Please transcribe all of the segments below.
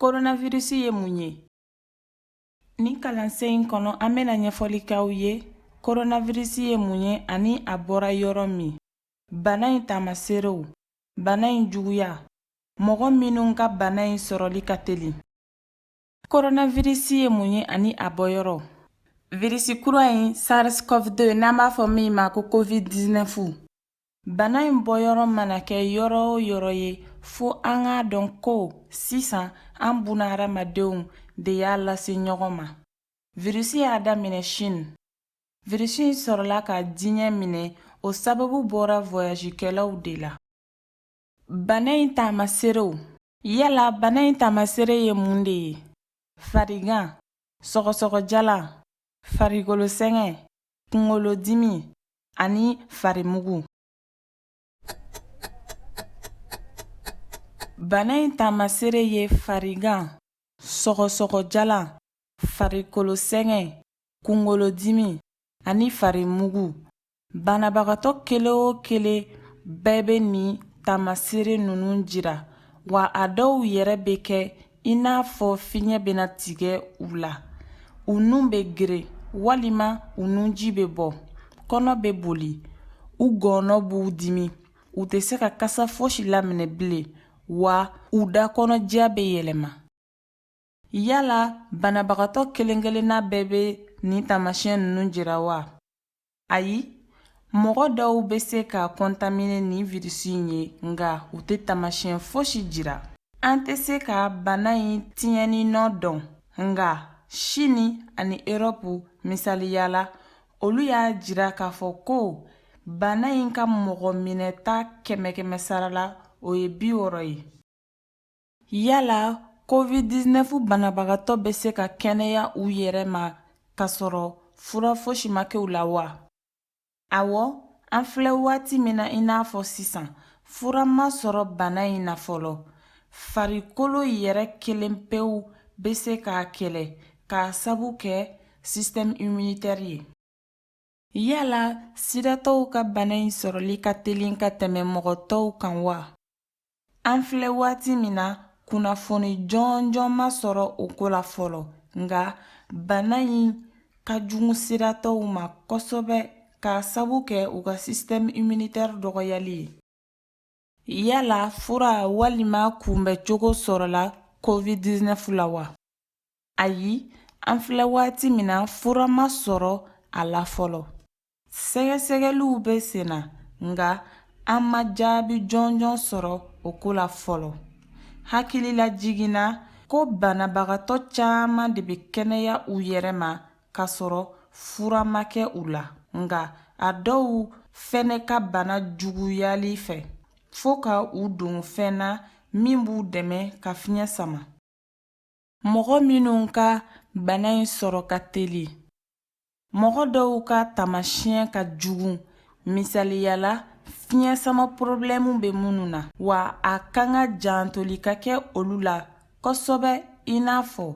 Koronavirisi ye mun ye? Nin kalansen in kɔnɔ an bɛna ɲɛfɔli kɛ aw ye koronavirisi ye mun ye ani a bɔra yɔrɔ min, bana in taamaseerew, bana in juguya, mɔgɔ minnu ka bana in sɔrɔli ka teli koronavirisi ye mun ye ani a bɔyɔrɔ virisi kura in sars-cov-2 n'an b'a fɔ min ma ko covid-19 bana in bɔyɔrɔ mana kɛ yɔrɔ o yɔrɔ ye fo an k'a dɔn ko sisan an bunaadamadenw de y'a lase ɲɔgɔn ma virisi y'a daminɛ chine virisi in sɔrɔla ka diɲɛ minɛ o sababu bɔra voyagekɛlaw de la Bana in taamaseerew Yala bana in taamaseere ye mun de ye? Farigan, sɔgɔsɔgɔjalan, farikolo sɛgɛn, kunkolodimi ani farimugu. Bana in taamaseere ye farigan, sɔgɔsɔgɔjalan, farikolo sɛgɛn, kunkolodimi ani farimugu. Banabagatɔ kelen o kelen bɛɛ bɛ nin taamaseere ninnu jira wa a dɔw yɛrɛ bɛ kɛ i n'a fɔ fiɲɛ bɛna tigɛ u la u nun bɛ geren walima u nunji bɛ bɔ kɔnɔ bɛ boli u gɔɔnɔ b'u dimi u tɛ se ka kasa fosi laminɛ bilen wa u da kɔnɔdiya bɛ yɛlɛma Yala banabagatɔ kelen-kelenna bɛɛ bɛ nin taamasiyɛn ninnu jira wa? Ayi, mɔgɔ dɔw bɛ se ka kɔntamine ni virisi in ye nka u tɛ taamasiyɛn fosi jira. An tɛ se ka bana in tiɲɛni nɔ dɔn, nka Chine ani Europe misaliya la, olu y'a jira k'a fɔ ko bana in ka mɔgɔ minɛta kɛmɛ-kɛmɛ sara la, o ye bi wɔɔrɔ ye. Yala covid-19 banabagatɔ bɛ se ka kɛnɛya u yɛrɛ ma k'a sɔrɔ fura fosi ma kɛ u la wa? Awɔ, an filɛ waati min na i n'a fɔ sisan, fura ma sɔrɔ bana in na fɔlɔ. Farikolo yɛrɛ kelen pewu bɛ se k'a kɛlɛ k'a sabu kɛ système immunitaire ye. Yala sidatɔw ka bana in sɔrɔli ka telin ka tɛmɛ mɔgɔ tɔw kan wa an filɛ waati min na kunnafoni jɔnjɔn ma sɔrɔ o ko la fɔlɔ nka bana in ka jugu sidatɔw ma kosɛbɛ k'a sabu kɛ u ka sisitɛmu iminitɛri dɔgɔyali ye Yala fura walima kunbɛcogo sɔrɔla covid-19 la wa? Ayi, an filɛ waati min na fura ma sɔrɔ a la fɔlɔ. Sɛgɛsɛgɛliw bɛ sen na, nka an ma jaabi jɔnjɔn sɔrɔ o ko la fɔlɔ. Hakililajiginna ko banabagatɔ caman de bɛ kɛnɛya u yɛrɛ ma k'a sɔrɔ fura ma kɛ u la nka a dɔw fɛnɛ ka bana juguyali fɛ fo ka u don fɛn na min b'u dɛmɛ ka fiɲɛ sama mɔgɔ minnu ka bana in sɔrɔ ka teli mɔgɔ dɔw ka taamasiyɛn ka jugu misaliya la fiɲɛ sama porobilɛmu bɛ minnu na wa a kan ka jantoli ka kɛ olu la kosɛbɛ i n'a fɔ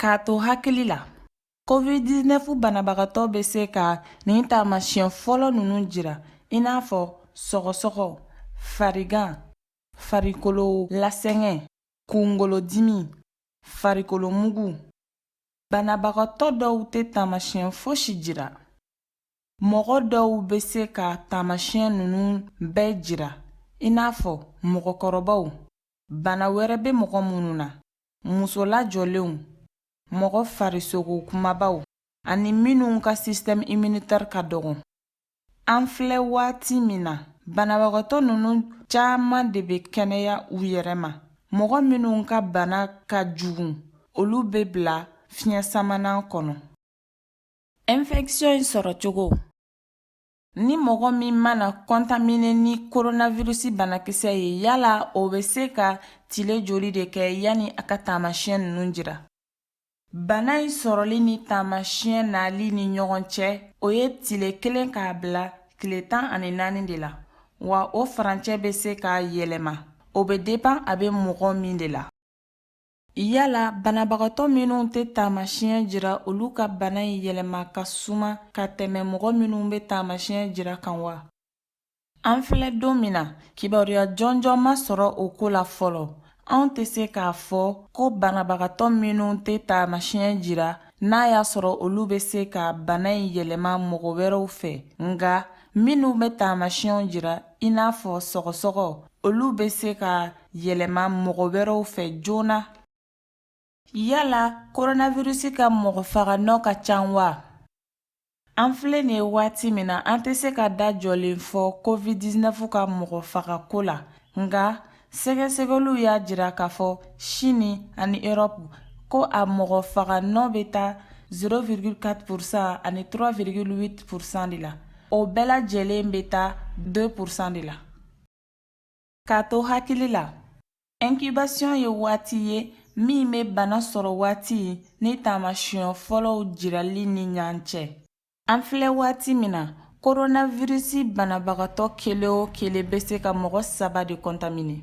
K'a to hakili la covid-19 banabagatɔ bɛ se ka nin taamasiyɛn fɔlɔ ninnu jira i n'a fɔ sɔgɔsɔgɔ farigan farikolo lasɛgɛn kunkolodimi farikolo mugu banabagatɔ dɔw tɛ taamasiyɛn fosi jira mɔgɔ dɔw bɛ se ka taamasiyɛn ninnu bɛɛ jira i n'a fɔ mɔgɔkɔrɔbaw bana wɛrɛ bɛ mɔgɔ minnu na muso lajɔlenw, mɔgɔ farisogo kumabaw ani minnu ka système immunitaire ka dɔgɔn. An filɛ waati min na, banabagatɔ ninnu caman de bɛ kɛnɛya u yɛrɛ ma. Mɔgɔ minnu ka bana ka jugu, olu bɛ bila fiɲɛ samanan kɔnɔ. Infection in sɔrɔcogo. Ni mɔgɔ min mana kɔntamine ni koronavirusi banakisɛ ye yala o bɛ se ka tile joli de kɛ yanni a ka taamasiyɛn ninnu jira bana in sɔrɔli ni taamasiyɛn nali ni ɲɔgɔn cɛ o ye tile kelen k'a bila tile tan ani naani de la wa o farancɛ bɛ se ka yɛlɛma o bɛ depan a bɛ mɔgɔ min de la Yala banabagatɔ minnu tɛ taamasiɲɛ jira olu ka bana in yɛlɛma ka suma ka tɛmɛ mɔgɔ minnu bɛ taamasiɲɛ jira kan wa? An filɛ don min na, kibaruya jɔnjɔn ma sɔrɔ o ko la fɔlɔ. Anw tɛ se k'a fɔ ko banabagatɔ minnu tɛ taamasiɲɛ jira, n'a y'a sɔrɔ olu bɛ se ka bana in yɛlɛma mɔgɔ wɛrɛw fɛ, nka minnu bɛ taamasiɲɛw jira, i n'a fɔ sɔgɔsɔgɔ olu bɛ se k'a yɛlɛma mɔgɔ wɛrɛw fɛ joona yala koronavirisi ka mɔgɔ faganɔ ka ca wa an filɛ nin ye waati min na an tɛ se ka da jɔlen fɔ covid-19 ka mɔgɔ fagako la nka sɛgɛsɛgɛliw y'a jira k'a fɔ sini ani erɔpu ko a mɔgɔ faga nɔ bɛ taa 0,4 pourcent ani 3,8 pourcent de la o bɛɛ lajɛlen bɛ taa 2 pourcent de la k'a to hakili la incubation ye waati ye min bɛ bana sɔrɔ waati ni taamasiyɛn fɔlɔw jirali ni ɲɔgɔn cɛ An filɛ waati min na koronaviriisi banabagatɔ kelen o kelen bɛ se ka mɔgɔ saba de contaminer